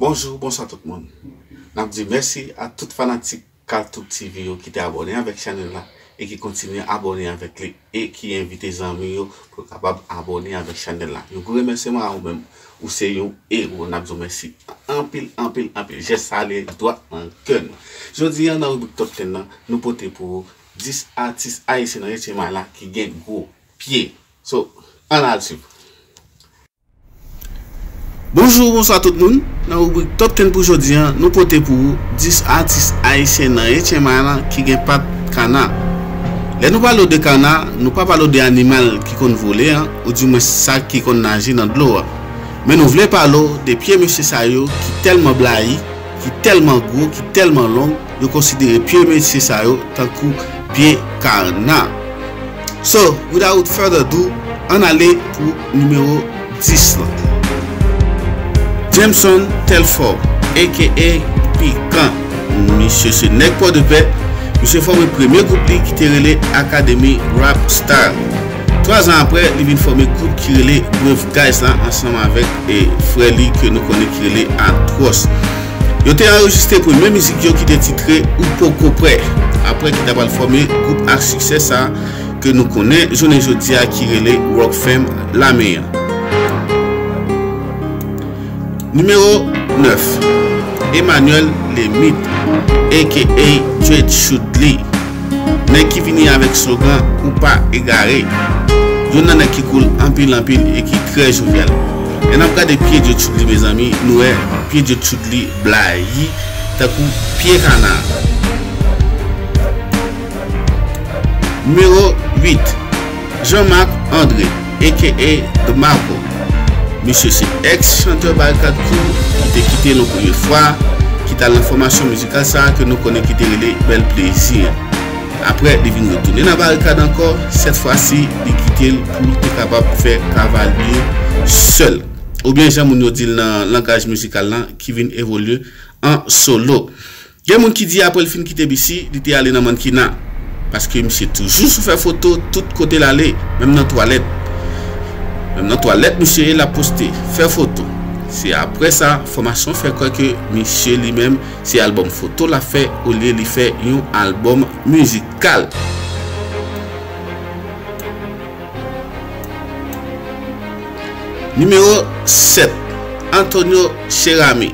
Bonjou, bonswa tout moun. Nap di mèsi a tout fanatik Kalthoub TV yo ki te abòne avèk chanèl la e ki kontinye abòne avèk li e ki envite zanmi yo pou yo kapab abòne avèk chanèl la. Yon gwo remèsyeman a ou menm, ou se yon ewo nap di w mèsi anpil anpil anpil. Jès sa ale dwat nan kè nou. Jodi an nan ribrik Top 10 lan, nou pote pou ou 10 atis ayisyen nan 8 ème ane la ki gen gwo pye. So, ann al swiv. Bonjou, bonswa tout moun. Nan ribrik Top 10 pou jodi an, nou pote pou ou 10 atis ayisyen nan HMI lan ki gen pat kana. Lè nou pale w de kana, nou pa pale w de animal ki konn vole an, ou di mwens sa ki konn naje nan dlo a. Men nou vle pale w de pye mesye sa yo ki tèlman blayi, ki tèlman gwo, ki tèlman long, yo konsidere pye mesye sa yo tankou pye kana. So, without further ado, ann ale pou nimewo 10 lan. Jameson Telfort aka Pikan, misye se nèg Pòdepè, misye fòme premye gwoup li ki te rele Akademi Rap Style. Twa zan apre, li vin fòme gwoup ki rele Brave Guys la ansanm avèk frè li ke nou konnen ki rele Atròs. Yo te anrejistre premye mizik yo ki te titre Ou Poko Prè, apre ki ta pral fòme gwoup a siksè sa ke nou konnen jounen jodi a ki rele Rock Fam Lame an. Nimewo 9, Emmanuel Lemit aka Djed Shoudly. Nèg ki vini avèk slogan Ou pa egare. Youn nan nèg ki cool anpil anpil e ki trè jovial. Lè nap gade pye Djo Tchoudli mezanmi nou wè pye Djo Tchoudli blayi tankou pye kana. Numéro 8, Jean Marc André, aka The Maple. Misye se ex chanteur Barikad Crew ki te kite nou premye fwa, ki t al nan fòmasyon mizikal sa ke nou konnen ki te rele Bèl Plezi an. Aprè li vin retounen nan Barikad ankò, sèt fwa si li kite l pou l te kapab fè Kavalye sèl, oubyen jan moun yo di l nan langaj mizikal lan ki vin evolye an solo. Gen moun ki di apre l fin kite BC, li te ale nan mannkena. Paske misye toujou sou fè foto tout kote l ale, menm nan twalèt. Menm nan twalèt misye ye l ap poste, fè foto. Se apre sa, enfòmasyon fè kwè ke misye li menm se albòm foto l ap fè olye li fè yon albòm mizikal. Nimewo 7, Antonio Cheramy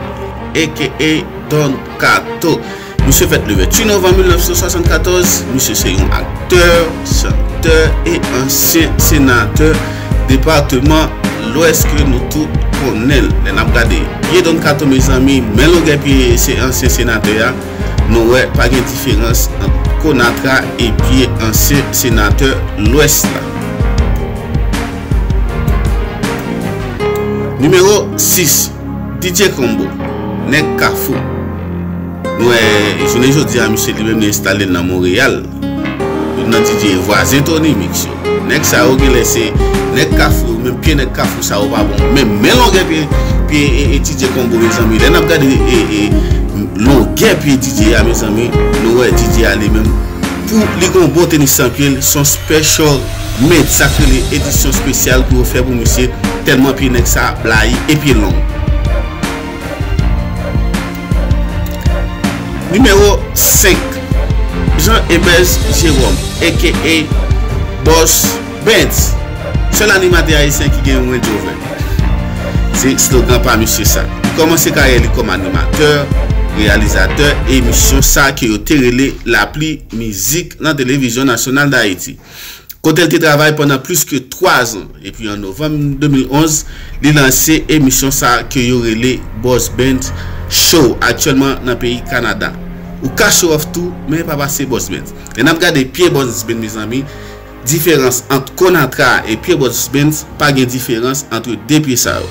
aka Don Kato Misye fèt le 28 novanm 1974, misye se yon aktè, chantè e ansyen senatè departeman lwès ke nou tout konnen l. Lè n ap gade pye Don Kato mezanmi, men longè pye ansyen senatè a. Nou wè pa gen diferans ant Konatra epi ansyen senatè Lwès la. Nimewo 6, Didier Combo, nèg Kafou. Nou wè jounen jodi a misye li menm li enstale l nan Monreyal. Youn nan DJ e vwazen Tony Mix yo. Nèg sa yo genlè se nèg kafou yo menm pye nèg kafou sa yo pa bon menm men longè pye pye DJ Combo mezanmi lè nap gade longè pye DJ a mezanmi nou wè DJ a li menm pou li gon bon tenis san pyel son special made sak rele edisyon spesyal pou yo fè pou misye tèlman pye nèg sa blayi e pye long. Nimewo 5, Jean Ebers Jerome aka Boss Bentz, sèl animatè ayisyen ki gen Range Rover li. Se slogan pa misye sa. Li kòmanse karyè li kòm animatè, reyalizatè emisyon sa ke yo te rele Lapli Mizik nan Televizyon Nasyonal Dayiti. kote l te travay pandan plis ke 3 zan, epi an novanm 2011, li lanse emisyon sa ke yo rele Boss Band Show aktyèlman nan peyi Kanada. Ou ka show off tou, men pa pase Boss Band. Lè n ap gade Pierre Boss Band mezanmi, diferans ant Konatra e Pierre Boss Band pa gen diferans antre 2 pye sa yo.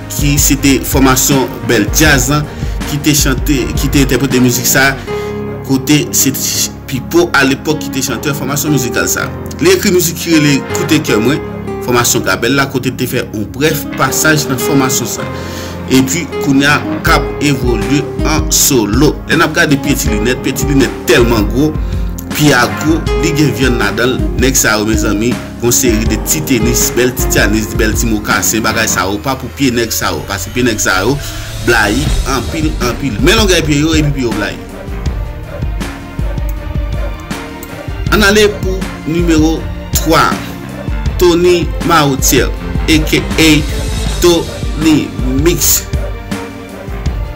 Ki se te fòmasyon bèl djaz lan ki te chante, ki te entèprete mizik sa, kote se t Pipo alepòk ki te chantè fòmasyon mizikal sa. Li ekri mizik ki rele Koute kè mwen, fòmasyon Gabèl la, kote l te fè yon brèf pasaj nan fòmasyon sa. Epi kounya k ap evolye an solo. Lè n ap gade Pye Ti Linèt, Pye Ti Linèt tèlman gwo, pye a gwo, li gen vyann ladan l, nèg sa yo mezanmi. Gon seri de ti tenis, bèl ti tyanis, bèl ti mokasen, bagay sa yo pa pou pye nèg sa yo. Paske pye nèg sa yo blayi anpil anpil. Men longèy pye yo epi pye yo blayi. Ann ale pou nimewo 3. Tony Marotier aka Tony Mix.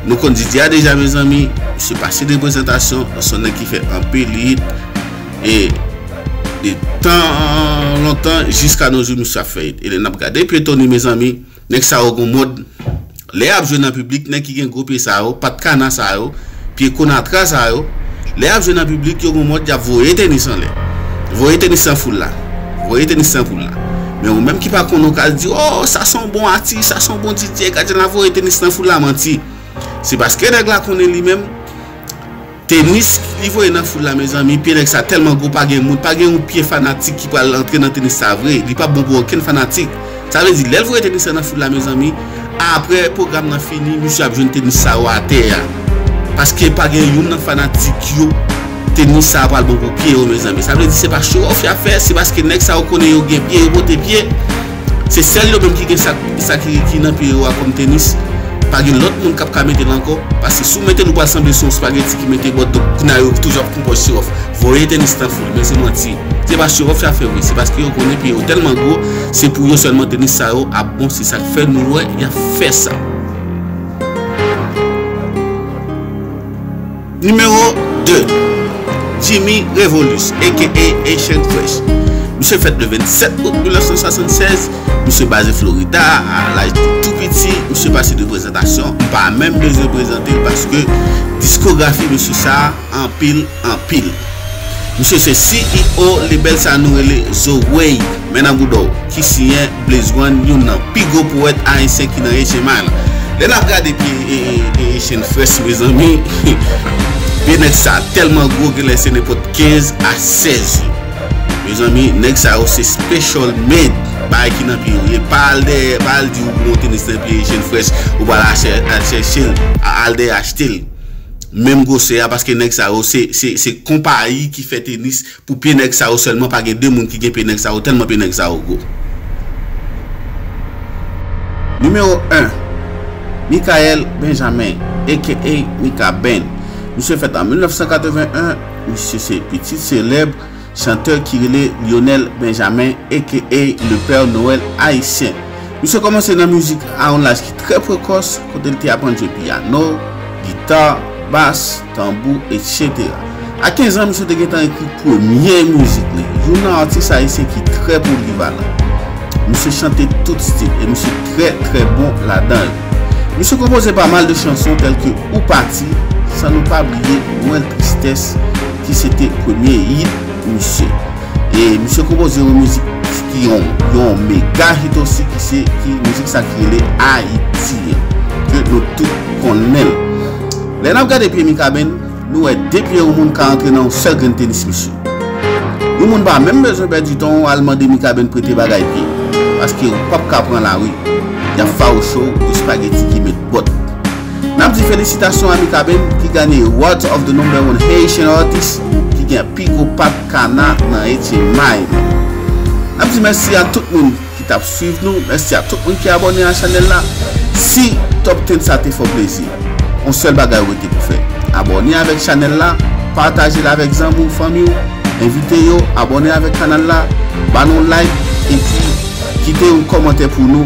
Nou konn Didi a deja mezanmi, misye pa site prezantasyon, se yon nèg ki fè anpil hit e de tan lontan jiska no jou misye ap fè hit e lè nap gade pye Tony mezanmi, nèg sa yo gon mod lè yap jwe nan piblik, nèg ki gen gwo pye sa yo, pat kana sa yo. Pye konatra sa yo, lè yap jwe nan piblik yo gon mòd yap voye tenis anlè. Voye tenis nan foul la. Voye tenis nan foul la. Men ou menm ki pa konnen ou ka al di oh sa son bon atis, sa son bon DJ gad jan lap voye tenis nan foul la manti. Se paske nèg la konnen li menm tenis li voye nan foul la mezanmi pye nèg sa tèlman gwo pa gen moun pa gen yon pye fanatik ki pral antre nan tenis sa vre li pap bon pou okenn fanatik. Sa vle di lèl voye tenis lan nan foul la mezanmi aprè program nan fini misye ap jwenn tenis sa yo atè a paske pa gen youn nan fanatik yo tenis sa pral bon pou pye yo mezanmi sa vle di se pa show off yap fè se paske nèg sa yo konnen yo gen pye yo pote pye se sèl yo menm ki gen sa ki nan pye yo a kòm tenis pa gen lòt moun kap ka metel ankò paske si w metel ou pral sanble se yon spaghetti ki mete bòt donk kounya yo toujou ap konpòj show off voye tenis lan. Ebyen se manti. Se pa chewòf ya fè vre. Se paske yo konnen pye yo tèlman gwo, se pou yo sèlman tenis sa yo ap bon. Se sak fè nou wè ya fè sa. Nimewo 2, Jimmy Revolus aka Haitian Fresh. Misye fèt le 27 out 1976. Misye baze Florida a laj li tou piti. Misye pase de prezantasyon. M pa menm bezwen prezante l paske diskografi mesye sa. anpil anpil. Misye se CEO lebèl sa nou rele Zo Wave, men nan bouda w, ki siyen Blaze One, youn nan pi gwo powèt ayisyen ki nan Ece May la. Lè n ap gade pye Ecen Fresh mezanmi, pye nèg sa tèlman gwo genlè se nenpòt 15 a 16 yo. Mezanmi, nèg sa yo se special made bagay ki nan pye yo ye. Pa al dèyè, pa al di ou pran yon tenis nan pye Ecen Fresh, ou pral al chèche l, al dèyè achte l. menm gwosè a paske nèg sa yo se se se konpayi ki fè tenis pou pye nèg sa yo sèlman pa gen 2 moun ki gen pye nèg sa yo tèlman pye nèg sa yo gwo. Nimewo 1, Mickaël Benjamin aka Mikaben, misye fèt an 1981, misye se pitit selèb. Chanteur ki rele Lionel Benjamin aka Le Père Noël Haïtien. Misye kòmanse nan mizik a yon laj ki trè prekòs kote l te aprann jwe piyano, gita, bas, tanbou etc. A 15 an misye te gentan ekri premye mizik li, youn nan atis ayisyen ki trè polivalan. Misye chante tout stil e misye trè trè bon ladan yo. Misye konpoze pa mal de chanson tèlke Ou pati, san nou pa bliye Mwen tristès, ki se te premye hit misye. E misye konpoze yon mizik ki yon mega hit osi ki se ki mizik sa ki rele Ayiti an. Ke nou tout konnenl. Lè nap gade pye Mikaben, nou wè de pye yon moun ka antre nan yon sèl grenn tenis misye. Yon moun pa menm bezwen pèdi tan w al mande Mikaben prete bagay pye. Paske ou pap ka pran lari. Yap fawouche w espageti ki met bòt. Nap di felisitasyon a Mikaben ki ganye Awards of the number one Haitian artist ki gen pi gwo pat kana nan Haiti may nou. Nap di mèsi a tout moun ki tap swiv nou, mèsi a tout moun ki abòne a chanèl la. Si top 10 sa te fè w plezi, on sèl bagay ou rete pou fè, abòne avèk chanèl la, pataje l avèk zanmi w, fanmi w, envite yo abòne avèk kanal la, ba n on like epi. Kite yon kòmantè pou nou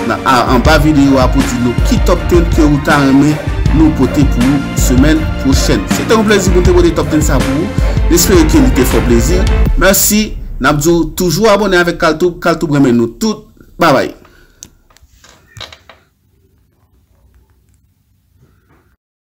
nan a anba videyo a pou di nou ki top 10 ke ou ta renmen nou pote pou ou semèn pwochèn. Se te yon plezi pou m te pote top 10 sa pou ou. M espere ke li te fè w plezi. Mèsi. N ap di w toujou abòne avèk Kaltoub. Kaltoub renmen nou tout. Babay.